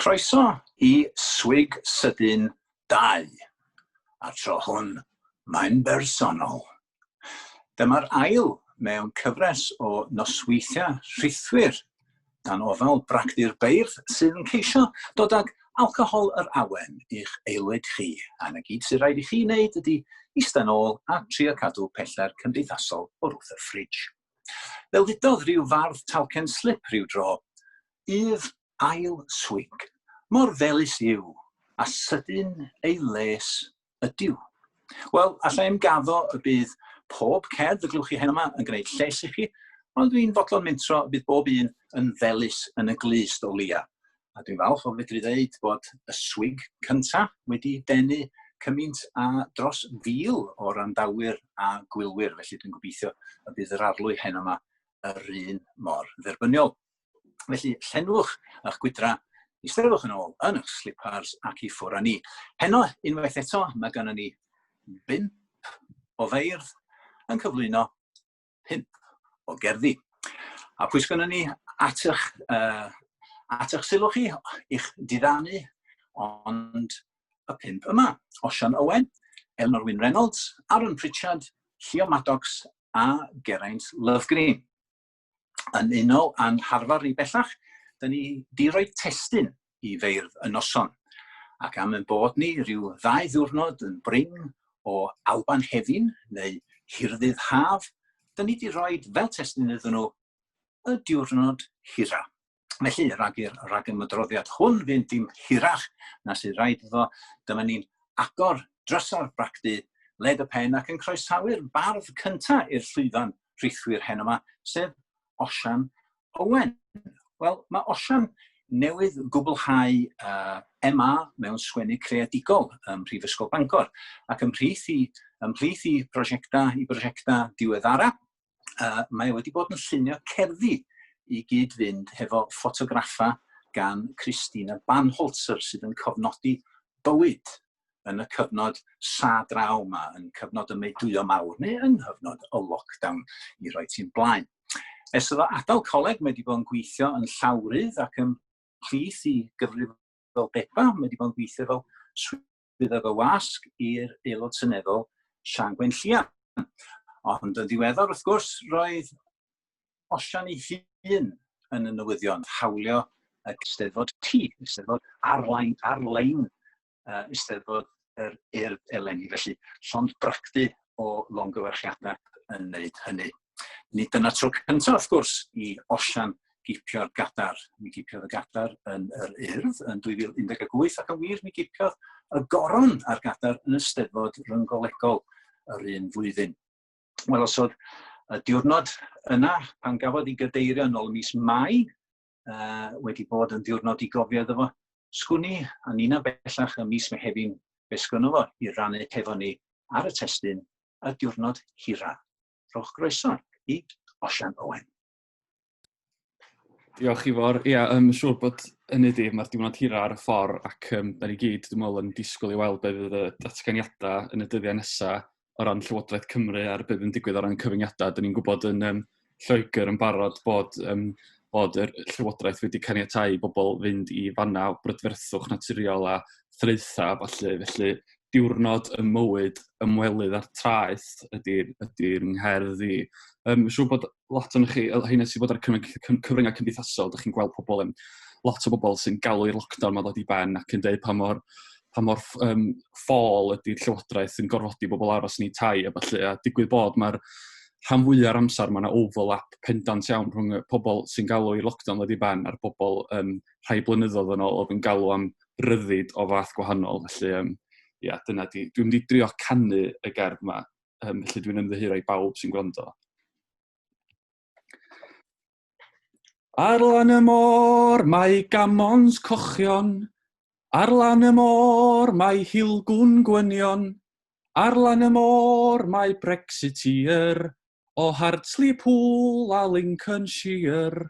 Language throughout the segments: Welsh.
Croeso i Swig Sydyn 2, a tro hwn mae'n bersonol. Dyma'r ail mewn cyfres o nosweithiau rhithwir dan ofal bragdy'r beirdd sydd yn ceisio dod ag alcohol yr awen i'ch aelwyd chi, a na gyd sy'n rhaid i chi wneud ydy ista'n ôl a trio cadw pellter cymdeithasol o wrth y ffridj. Fel ddudodd rhyw fardd talcen slip rhyw dro, Yf ail swig mor felys yw, a sydyn ei les ydyw. Wel, allai im gaddo y bydd pob cerdd y glywch chi hen yma yn gwneud lles i chi, ond dwi'n fodlon mentro y bydd bob un yn felus yn y glust o leia. A dwi'n falch o fedru ddeud bod y swig cynta wedi denu cymaint a dros fil o randawyr a gwylwyr, felly dwi'n gobeithio y bydd yr arlwy hen yma yr un mor dderbyniol. Felly, llenwch eich gwydra, eisteddwch yn ôl yn eich slipars ac i ffwr â ni. Heno, unwaith eto, mae gennym ni bimp o feirdd yn cyflwyno pimp o gerddi. A pwy sgynnon ni at eich, uh, at eich sylw chi, i'ch diddannu, ond y pimp yma, Osian Owen, Eleanor Wyn Reynolds, Aaron Pritchard, Llio Maddox a Geraint Lovegreen. yn unol â'n harfer ni bellach, da ni di roi testyn i feirdd y noson. Ac am yn bod ni rhyw ddau ddiwrnod yn brin o Alban Hefin neu Hirdydd Haf, da ni di roi fel testyn iddyn nhw y diwrnod hira. Felly, rhag i'r rhag ymwydroddiad hwn fynd dim hirach na sydd rhaid iddo, dyma ni'n agor drysau'r bragdy, led y pen ac yn croesawu'r bardd cynta i'r llwyfan rhithwir heno yma, sef Osian Owen. Wel, mae Osian newydd gwblhau uh, MA mewn sgwennu creadigol ym Mhrifysgol Bangor ac ymhlith i, ymhlith i prosiectau i brosiectau diweddara, uh, mae wedi bod yn llunio cerddi i gyd-fynd hefo ffotograffa gan Christina Banholzer sydd yn cofnodi bywyd yn y cyfnod sa draw yma, yn cyfnod y meudwyo mawr neu yn hyfnod y lockdown i roi ti'n blaen. Ers iddo adael coleg, mae wedi bod yn gweithio yn llawrydd ac yn plith i gyfrif fel Bepa, mae wedi bod yn gweithio fel bydd ar fy wasg i'r Aelod Seneddol Siân Gwenllian. Ond yn ddiweddar, wrth gwrs, roedd Osian ei hun yn y newyddion, hawlio y Eisteddfod T, Eisteddfod arlein, arlein uh, Eisteddfod yr urdd eleni, felly llond bractu o longyfarchiadau yn wneud hynny. Nid dyna tro cyntaf, wrth gwrs, i Osian gipio'r gadar. Mi gipiodd y gadar yn yr urdd yn 2018 ac yn wir mi gipiodd y goron a'r gadar yn y steddfod ryngolegol yr un flwyddyn. Wel, os oedd y diwrnod yna pan gafodd ei gadeirio yn ôl mis Mai uh, wedi bod yn diwrnod i gofio iddo fo, sgwn i, a nina bellach y mis Mehefin, fe sgwn fo i rannu hefo ni ar y testyn y diwrnod hira. Rhowch groeso i Osian Owen. Diolch i fawr. Ia, yym, siŵr bod hynny 'di, mae'r diwrnod hira ar y ffordd ac yym, da ni gyd, dwi'n meddwl, yn disgwyl i weld be fydd y datganiadau yn y dyddiau nesaf o ran Llywodraeth Cymru a'r be fydd digwydd o ran cyfyngiadau. Da ni'n gwybod yn um, Lloegr yn barod bod, um, bod y Llywodraeth wedi caniatau i bobl fynd i fanna o brydferthwch naturiol a thraetha, falle. Felly, diwrnod y mywyd ymwelydd a'r traeth ydy'r ydy, ydy ngherdd i. Um, siŵr bod lot o'n chi, oedd hyn sy'n bod ar cyfryngau cymdeithasol, ydych chi'n gweld pobl yn, lot o bobl sy'n galw i'r lockdown mae'n dod i ben ac yn dweud pa mor, pa mor um, ffôl ydy'r llywodraeth yn gorfodi bobl aros yn ei tai a falle, a digwydd bod mae'r rhan fwy o'r amser mae yna overlap pendant iawn rhwng y pobl sy'n galw i'r lockdown ddod i ben a'r bobl um, rhai blynyddoedd yn ôl oedd yn galw am ryddid o fath gwahanol. Felly, um, ia, dyna di. Dwi'n mynd i drio canu y gerdd yma Um, felly dwi'n ymddiheuro i bawb sy'n gwrando. Ar lan y môr mae gamons cochion, ar lan y môr mae hilgwn gwynion, ar lan y môr mae Brexiteer, o Hartley Pool a Lincolnshire.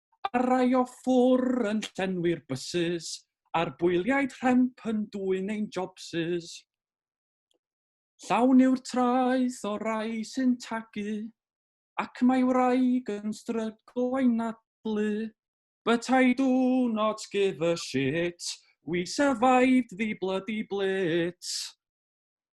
a rai o ffwr yn llenwi'r bysys, a'r bwyliaid rhemp yn dwyn ein jobsys. Llawn yw'r traeth o rai sy'n tagu, ac mae wraig yn stryglo i nadlu. But I do not give a shit, we survived the bloody blitz.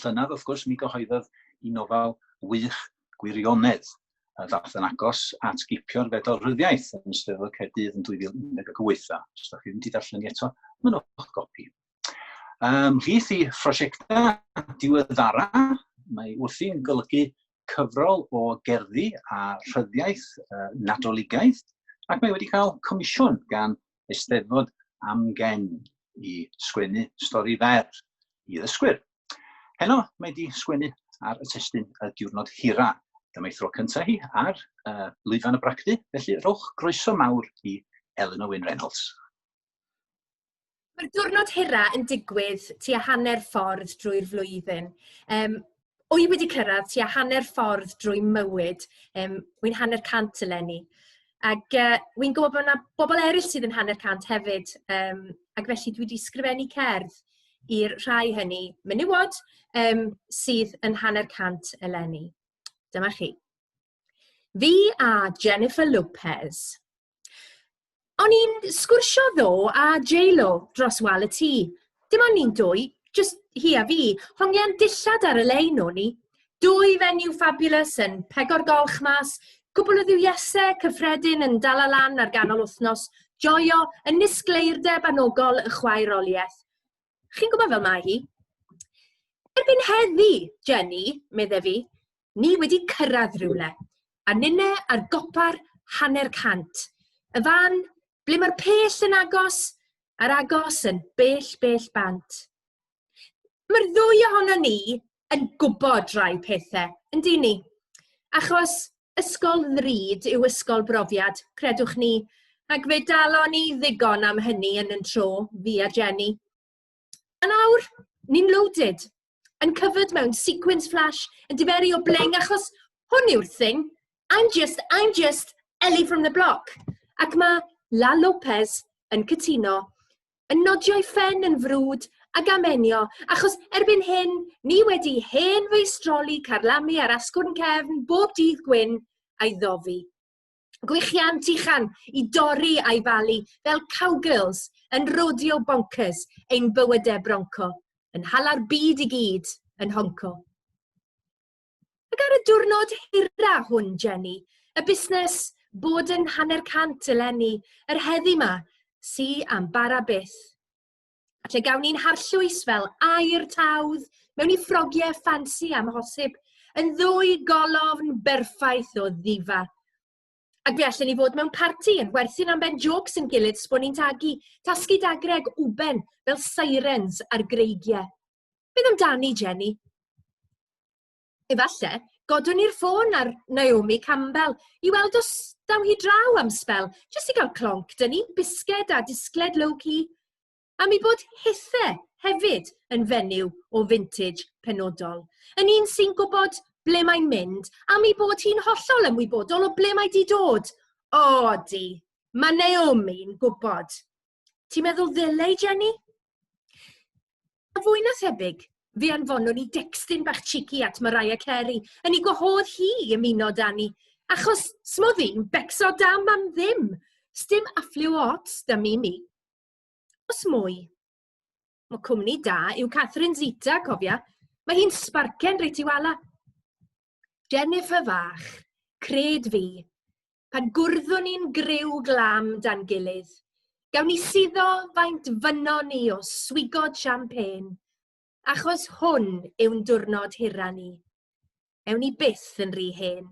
llynedd, wrth gwrs, mi gyhoeddodd i nofel wych gwirionedd a ddath yn agos at gipio'r fedal ryddiaeth yn ystod y Caerdydd yn 2018. A os ydych chi wedi darllen eto, mae'n o'ch gopi. Um, Rhith i phrosiectau diweddara, mae wrthi'n golygu cyfrol o gerddi a rhyddiaeth uh, nadoligaidd, ac mae wedi cael comisiwn gan Eisteddfod amgen i sgwennu stori fer i ddysgwyr. Heno, mae di sgwennu ar y testyn y diwrnod hira. Dyma ei thro cyntaf hi ar uh, lwyfan y bragdy, felly rhowch groeso mawr i Eleanor Wyn Reynolds. Mae'r diwrnod hira yn digwydd tua hanner ffordd drwy'r flwyddyn. Um, Wy wedi cyrraedd tua hanner ffordd drwy mywyd, um, wy'n hanner cant eleni. Ac uh, wy'n gwybod bod yna bobl eraill sydd yn hanner cant hefyd, um, ac felly dwi wedi sgrifennu cerdd i'r rhai hynny menywod um, sydd yn hanner cant eleni. Dyma chi. Fi a Jennifer Lopez, O'n i'n sgwrsio ddo a J-Lo dros wal y tŷ. Dim ond ni'n dwy, just hi a fi. Hongian dillad ar y lein o'n i. Dwy fenyw fabulous yn pegor golch mas, cwbl o ddiwiasau cyffredin yn dal lan ar ganol wythnos, joio yn nisgleirdeb anogol y chwaeroliaeth. Chi'n gwybod fel mae hi? Erbyn heddi, Jenny, medde fi, ni wedi cyrraedd rhywle, a nine ar gopa'r hanner cant. Y fan, ble mae'r pell yn agos, a'r agos yn bell, bell bant. Mae'r ddwy ohono ni yn gwybod rai pethau, yn di ni? Achos ysgol ddrud yw ysgol brofiad, credwch ni, ac fe dalon ni ddigon am hynny yn yn tro, fi a Jenny. Yn awr, ni'n loaded, yn cyfyd mewn sequence flash, yn diferu o bleng, achos hwn yw'r thing. I'm just, I'm just Ellie from the block. Ac mae La Lopez yn cytuno yn nodio'i phen yn frwd a gamenio, achos erbyn hyn, ni wedi hen feistroli carlamu ar asgwrn cefn bob dydd gwyn a'i ddofi. Gwichian tichan i dorri a'i falu fel cowgirls yn rodeo bonkers ein bywydau bronco, yn hala'r byd i gyd yn honco. Ac ar y diwrnod hira hwn, Jenny, y busnes bod yn hanner cant eleni, yr heddi ma, si am bara byth. Lle gawn ni'n harllwys fel air tawdd mewn i ffrogiau ffansi am hosib, yn ddwy golofn berffaith o ddifa. Ac fe allan ni fod mewn parti yn werthu'n am ben jocs yn gilydd sbon ni'n tagu, tasgu dagreg uben fel sirens ar greigiau. Beth amdani, Jenny? Efallai, godwn ni'r ffôn ar Naomi Campbell i weld os daw hi draw am sbel, jyst i gael clonc, dyn ni, bisged a disgled low-key. A mi bod hithe hefyd yn fenyw o vintage penodol. Yn un sy'n gwybod ble mae'n mynd, a mi bod hi'n hollol ymwybodol o ble mae di dod. O, di, mae Naomi'n gwybod. Ti'n meddwl ddylai, Jenny? A fwy na thebyg, fe anfonwn i dextyn bach cheeky at Mariah Carey, yn ei gwahodd hi i ymuno da ni, achos smodd i'n becso dam am ddim, stym affliw o ots da mi mi. Os mwy. Mae cwmni da yw Catherine Zita, cofia, mae hi'n sbarcen reit i wala. Jennifer fach, cred fi, pan gwrddwn ni'n griw glam dan gilydd. Gawn ni suddo faint fynno ni o swigod champagne, achos hwn yw'n diwrnod hira ni. Ewn ni byth yn rhy hen.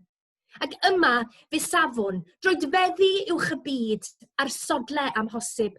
Ac yma, fe safwn, droedfeddi uwch y byd, a'r sodle amhosib,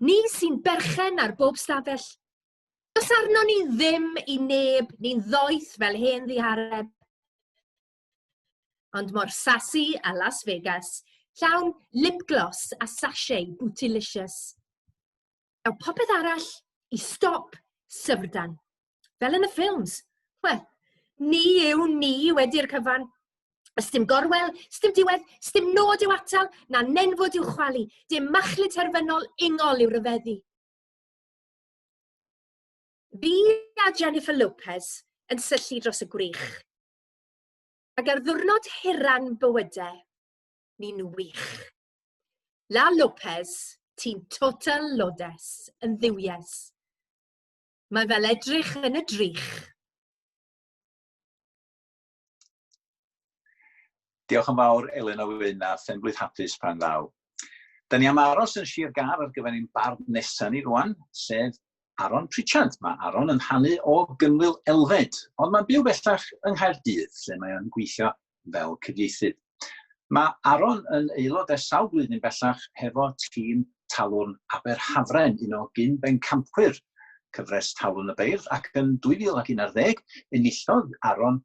Ni sy'n berchen ar bob stafell. Does arno ni ddim i neb ni'n ddoeth fel hen ddihareb. Ond mor sasi a Las Vegas, llawn lip gloss a sachet bootylicious. Daw popeth arall i stop syfrdan. Fel yn y ffilms. Wel, ni yw ni wedi'r cyfan. Ysdim gorwel, ysdim diwedd, ysdim nod i'w atal, na nenfod i'w chwalu. Dim machlu terfynol ingol i'w ryfeddu. Fi a Jennifer Lopez yn syllu dros y gwrych. Ac ar ddwrnod hiran bywydau, ni'n wych. La Lopez, ti'n total lodes, yn ddiwies. Mae fel edrych yn y drych. Diolch yn fawr Elin o Wyn a phenblwydd hapus pan ddaw. Da ni am aros yn Sir Gar ar gyfer ein bardd nesaf ni rwan, sef Aron Pritchard. Mae Aron yn hanu o Gynwyl Elfed, ond mae'n byw bellach yng Nghaerdydd, lle mae o'n gweithio fel cyfieithydd. Mae Aaron yn aelod ers sawl blwyddyn bellach hefo tîm Talwrn Aberhafren, un o gyn-bencampwyr cyfres Talwrn y Beirdd, ac yn 2011 enillodd Aaron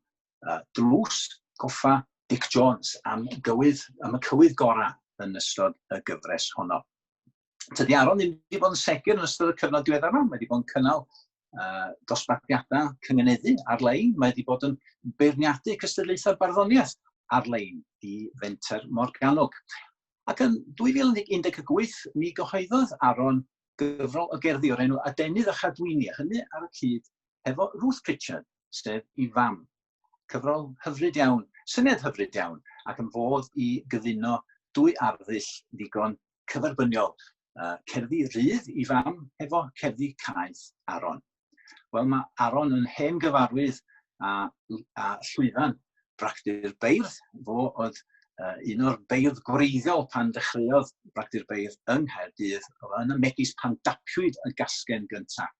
uh, dlws goffa Dic Jones am gywydd, am y cywydd gorau yn ystod y gyfres honno. tydi Aron ddim wedi bod yn segur yn ystod y cyfnod diweddar yma. Mae wedi bod yn cynnal uh, dosbarthiadau cyngeneddu ar-lein. Mae wedi bod yn beirniadu cystadlaethau barddoniaeth ar-lein i Fenter Morgannwg. Ac yn 2018, mi gyhoeddodd Aron gyfrol o gerddi o'r enw Adenydd a Chadwyni, a hynny ar y cyd hefo Ruth Pritchard, sef i fam. Cyfrol hyfryd iawn, syniad hyfryd iawn, ac yn fodd i gyfuno dwy arddull ddigon cyferbyniol, uh, cerddi rydd i fam hefo cerddi caeth Aron. Wel, mae Aron yn hen gyfarwydd a, a llwyfan bragdy'r beirdd, fo oedd uh, un o'r beirdd gwreiddiol pan ddechreuodd bragdy'r beirdd yng Nghaerdydd, yn y megis pan dapiwyd y gasgen gyntaf.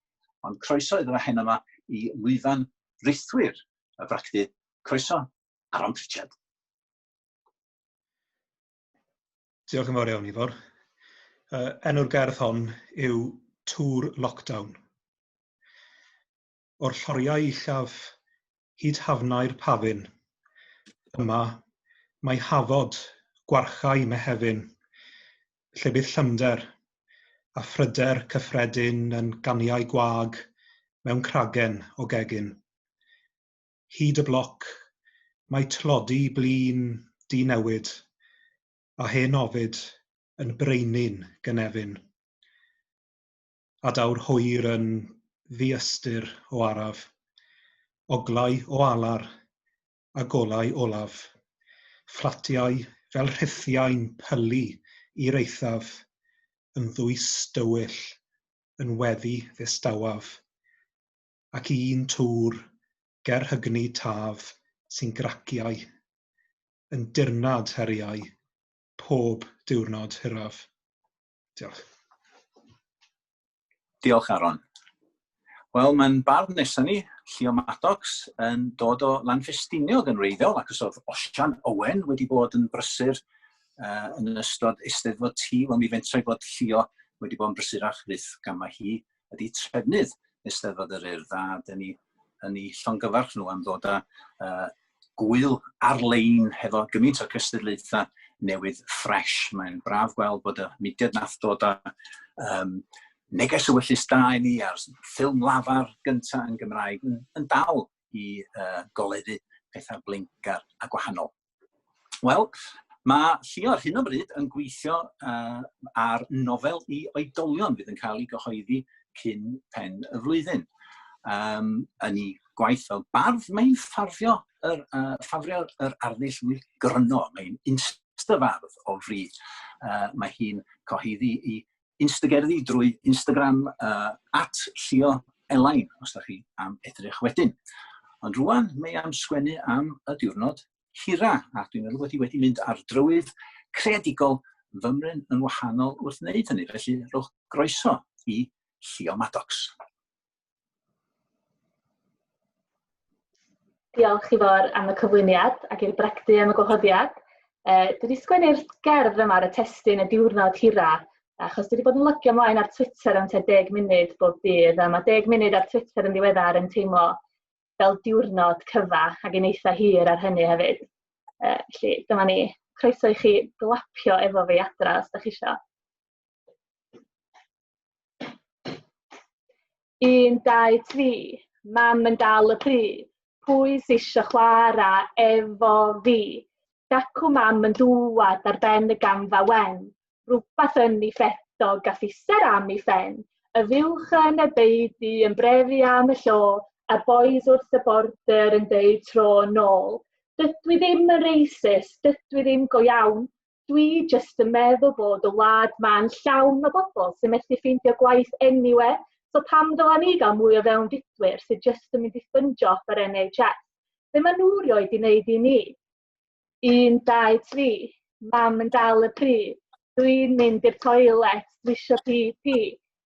Ond croeso iddo fe heno 'ma i lwyfan rithwir y bragdy. Croeso, Aron Pritchard. Diolch yn fawr iawn, Ifor. Uh, enw'r gerdd hon yw Tŵr Lockdown. O'r lloriau uchaf hyd hafnau'r pafin. Yma, mae Hafod, gwarchae Mehefin, lle bydd llymder, a phryder cyffredin yn ganiau gwag mewn cragen o gegin. Hyd y bloc, mae tlodi blin di-newid, a hen ofid yn braenu'n gynefin. adaw'r hwyr yn ddi-ystyr o araf, oglau o alar a golau olaf, fflatiau fel rhethiau'n pylu i'r eithaf, yn ddwys dywyll, yn weddi ddistawaf, ac un twr ger hygni taf sy'n graciau, yn dirnad heriau pob diwrnod hiraf. Diolch. Diolch, Aaron. Wel, mae'n barn nesaf ni, Llio Maddox, yn dod o Lanfestiniog yn reiddiol, ac os oedd Osian Owen wedi bod yn brysur uh, yn ystod eisteddfod ti, wel mi fentra i bod Llio wedi bod yn brysurach fydd gamau hi ydy trefnydd Eisteddfod yr Urdd a dyn ni yn ei llongyfarch nhw am ddod â uh, gwyl ar-lein hefo gymaint o gystadlaethau newydd ffres. Mae'n braf gweld bod y mudiad nath dod â um, neges y wyllus da i ni a'r ffilm lafar gyntaf yn Gymraeg yn, yn dal i uh, goleddu pethau blincgar a gwahanol. Wel, mae Llio ar hyn o bryd yn gweithio uh, ar nofel i oedolion fydd yn cael ei gyhoeddi cyn pen y flwyddyn. Um, yn ei gwaith fel bardd, mae'n ffafrio yr, uh, ffafrio yr arddull mwy gryno, mae'n insta fardd o fri. Uh, mae hi'n coheddi i Instagerddi drwy Instagram uh, at Llio Elain, os da chi am edrych wedyn. Ond rwan, mae am sgwennu am y diwrnod hira, a dwi'n meddwl bod hi wedi mynd ar drywydd creadigol fymryn yn wahanol wrth wneud hynny. Felly, rhowch groeso i Llio Maddox. Diolch, Ifor, am y cyflwyniad ac i'r brecdu am y gwahoddiad. Uh, dwi wedi sgwennu'r gerdd yma ar y testyn y diwrnod hira, achos dwi wedi bod yn lygio mlaen ar Twitter am te deg munud bob dydd, a mae deg munud ar Twitter yn ddiweddar yn teimlo fel diwrnod cyfa ac yn eitha hir ar hynny hefyd. Uh, felly, dyma ni. Croeso i chi glapio efo fi adra os da chi eisiau. Un, dau, tri. Mam yn dal y pry. Pwy sy'isio chwara efo fi? Dacw mam yn dŵad ar ben y gamfa wen. Rhywbeth yn ei ffetog a ffiser am ei phen. Y fuwch yn y beudy yn brefu am y llo, a boys wrth y border yn deud tro nôl. Dydw i ddim yn racist, dydw i ddim go iawn, Dwi jyst yn meddwl bod y wlad ma'n llawn o bobl sy'n methu ffeindio gwaith anyway, so pam ddylen ni gael mwy o fewn dydwyr sydd jyst yn mynd i ffyndio off yr NHS? Be maen nhw rioed i wneud i ni? Un, dau, tri. Mam yn dal y pryd. Dwi'n mynd i'r toilet, dwi eisiau pi pi.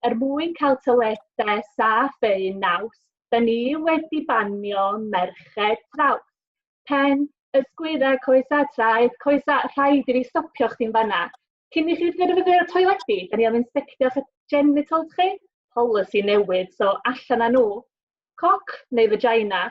Er mwyn cael toiledau saff eu naws, da ni wedi banio merched traws. Pen, ysgwydd a coes a traed, coes a, rhaid i fi stopio chdi'n fanna. Cyn i chi ddyrfyfyr y toiledi, da ni am inspectio'ch genitals chi. Polisi newydd, so allan â nhw. Coc neu vagina?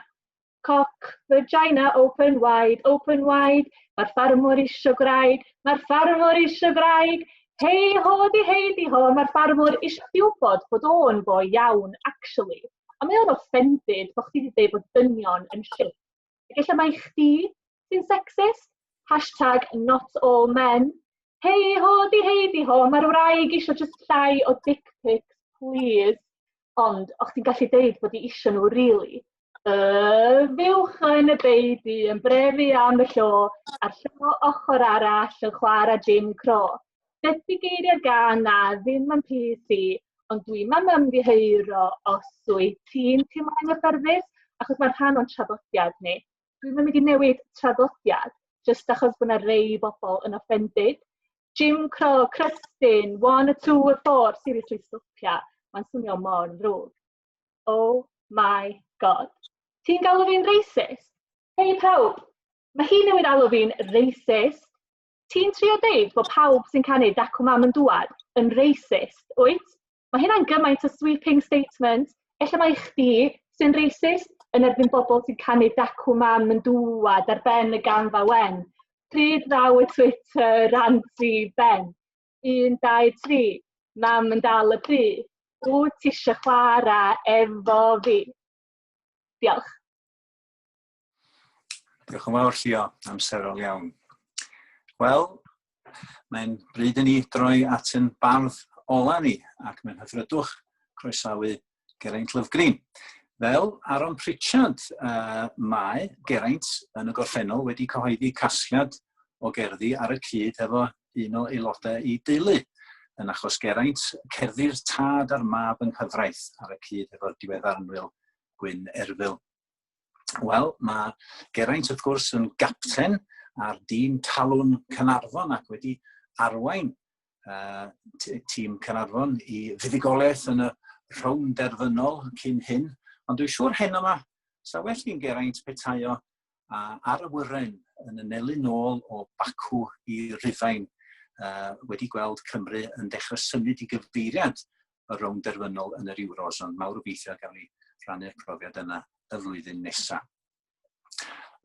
Coc, vagina, open wide, open wide. Mae'r ffarmwr isio gwraig, mae'r ffarmwr isio gwraig. Hei ho di hei di ho, mae'r ffarmwr isio chdi wybod bod o'n foi iawn, actually. A mae o'n offended bod chdi wedi dweud bod dynion yn shit. Efallai mai chdi sy'n sexist? Hashtag not all men. Hei ho, di hei di ho, mae'r wraig eisiau just llai o dick pics, please. Ond, o chdi'n gallu deud bod i eisiau nhw, really? Uh, fiwch yn y beidi, yn brefu am y llo, a'r llo ochr arall yn chwarae Jim Cro. Beth di geiriau gan na ddim yn pys i, ond dwi mam yn ddiheuro os wyt ti'n teimlo anghyffyrddus, achos mae'n rhan o'n traddodiad ni. Dwi'n mynd i newid traddodiad, jyst achos bod yna rei bobl yn offended. Jim Cro, Crystin, one, a two, a four, seriously stopia, mae'n swnio mor ddrwg. Oh my god. Ti'n galw fi'n racist? Hei pawb, mae hi newid alw fi'n racist, Ti'n trio deud bod pawb sy'n canu Dacw Mam yn Dŵad yn racist, wyt? Mae hynna'n gymaint o sweeping statement. Ella mae chdi sy'n racist yn erbyn bobl sy'n canu Dacw Mam yn Dŵad ar ben y gamfa wen. Pryd ddaw y Twitter rant i ben? 1, 2, 3. Mam yn dal y bry. Wyt ti eisiau chwarae efo fi? Diolch. Diolch yn fawr, Llio. Amserol iawn. Wel, mae'n bryd i ni droi at yn bardd ola ni, ac mae'n hyfrydwch croesawu Geraint Lyfgreen. Fel Aaron Pritchard, uh, mae Geraint yn y gorffennol wedi cyhoeddi casgliad o gerddi ar y cyd efo un o aelodau i deulu. Yn achos Geraint, cerddi'r tad a'r mab yng nghyfraith ar y cyd efo'r diweddar yn Wil Gwyn Erfil. Wel, mae Geraint wrth gwrs yn gapten ar dîm talwn Cynarfon ac wedi arwain uh, tîm Cynarfon i fuddugoliaeth yn y rhown derfynol cyn hyn. Ond dwi'n siŵr hyn yma, sa well i'n Geraint petaio uh, ar y wyren yn y nelu nôl o Bacw i Rufain uh, wedi gweld Cymru yn dechrau symud i gyfeiriad y rownd derfynol yn yr Euros, ond mawr obeithio gawn ni rhannu'r profiad yna y flwyddyn nesaf.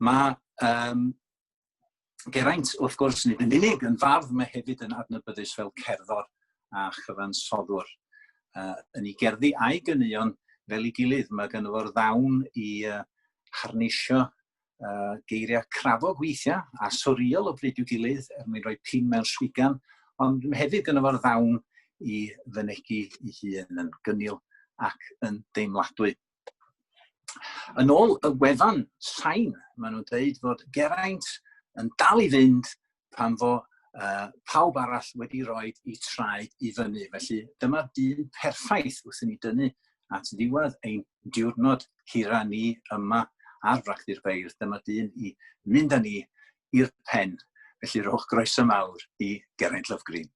Mae um, Geraint, wrth gwrs, nid yn unig yn fardd, mae hefyd yn adnabyddus fel cerddor a chyfansoddwr. Uh, yn ei gerddi a'i gyneuon fel ei gilydd, mae gynnu fo'r ddawn i uh, harneisio uh, geiriau crafog weithiau a soriol o bryd i'w gilydd er mwyn rhoi pin mewn swigan, ond hefyd yn efo'r ddawn i fynegu i hun yn gynnil ac yn deimladwy. Yn ôl y wefan sain, maen nhw'n dweud fod Geraint yn dal i fynd pan fo uh, pawb arall wedi rhoi i traed i fyny. Felly dyma'r dyn perffaith wrth i ni dynnu at ddiwedd ein diwrnod hira ni yma ar Fracti'r Beirdd. Dyma'r dyn i mynd â ni i'r pen. Felly rhowch groeso mawr i Geraint Love Green.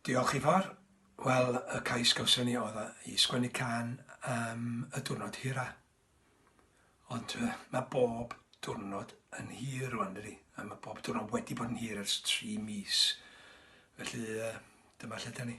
Diolch Ifor. Wel y cais gawson ni oedd yy i sgwennu can am y diwrnod hira. Ond yy ma' bob diwrnod yn hir rwan dydi? A ma' bob diwrnod wedi bod yn hir ers tri mis. Felly yy dyma lle 'dan ni.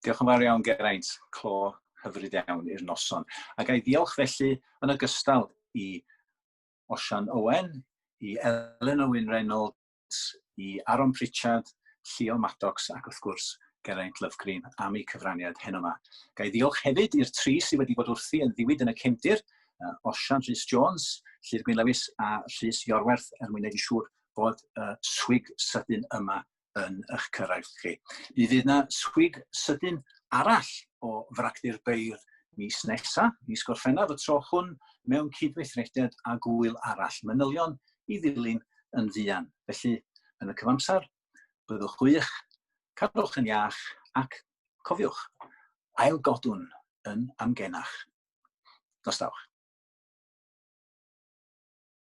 Diolch yn fawr iawn, Geraint. Clo hyfryd iawn i'r noson. Ac a'i ddiolch felly yn ogystal i Osian Owen, i Elen Owen Reynolds, i Aaron Pritchard, Llio Maddox ac wrth gwrs Geraint Lovegreen am eu cyfraniad heno yma. Gai ddiolch hefyd i'r tri sydd wedi bod wrthi yn ddiwyd yn y cefndir, uh, Osian Rhys Jones, Llyr Gwyn Lewis a Rhys Iorwerth er mwyn wneud yn siŵr bod y uh, swig sydyn yma yn eich cyrraedd chi. Mi fydd yna swig sydyn arall o fragdi'r beirdd mis nesa, mis Gorffennaf, y tro hwn mewn cydweithrediad a gwyl arall, manylion i ddilyn yn fuan. Felly, yn y cyfamser, byddwch gwych, cadwch yn iach ac cofiwch, ail godwn yn amgenach. Nostawch.